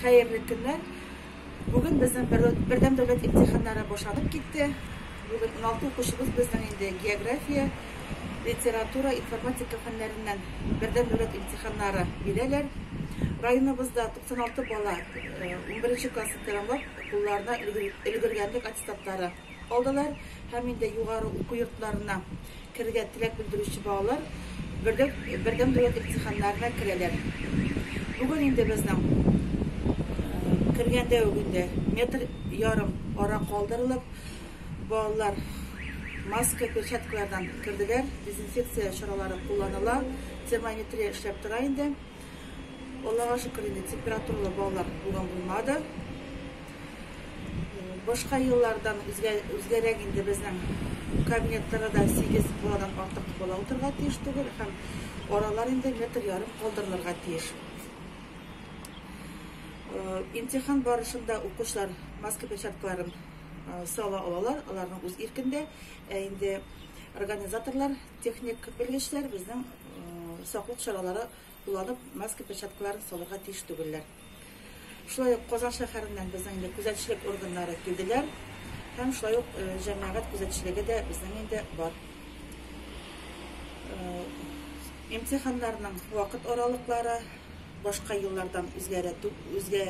Хәерле көннәр. Бүген безнең бердәм дәүләт имтиханнары башланып китте. Бүген 16 укучыбыз безнең инде география, литература, информатика фәннәреннән бердәм дәүләт имтиханнары бирәләр. Районыбызда 96 бала 11 классын тәмамлап, кулларына өлгергәнлек аттестатлары алдылар һәм инде югары уку йортларына керергә теләк белдерүче балалар берлек бердәм дәүләт имтиханнарына керәләр. Бүген инде безнең кергәндә үк инде метр ярым ара калдырылып, балалар маска, перчаткалардан керделәр, дезинфекция чаралары кулланыла, термометрия эшләп тора инде. Аллага шөкер инде, температуралы балалар булган булмады. Башка еллардан үзгә, үзгәрәк инде безнең кабинетларда да 8 баладан артык бала утырырга тиеш түгел һәм аралар инде метр ярым калдырылырга тиеш. Э, имтихан барышында укучылар маска перчаткаларын э, сала алалар, аларның үз иркендә. Ә инде организаторлар Техник белгечләр безнең саклык чаралары кулланып маска перчаткаларын салырга тиеш түгелләр. Шулай ук Казан шәһәреннән безнең инде күзәтчелек органнары килделәр һәм шулай ук җәмәгать күзәтчелеге дә безнең инде бар. Имтиханнарның вакыт аралыклары башка еллардан үзгәрә үзгә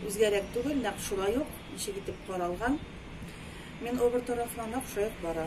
үзгәрәк түгел, нәкъ шулай ук ничек итеп каралган. Мин обер тарафына нәкъ шулай ук бара.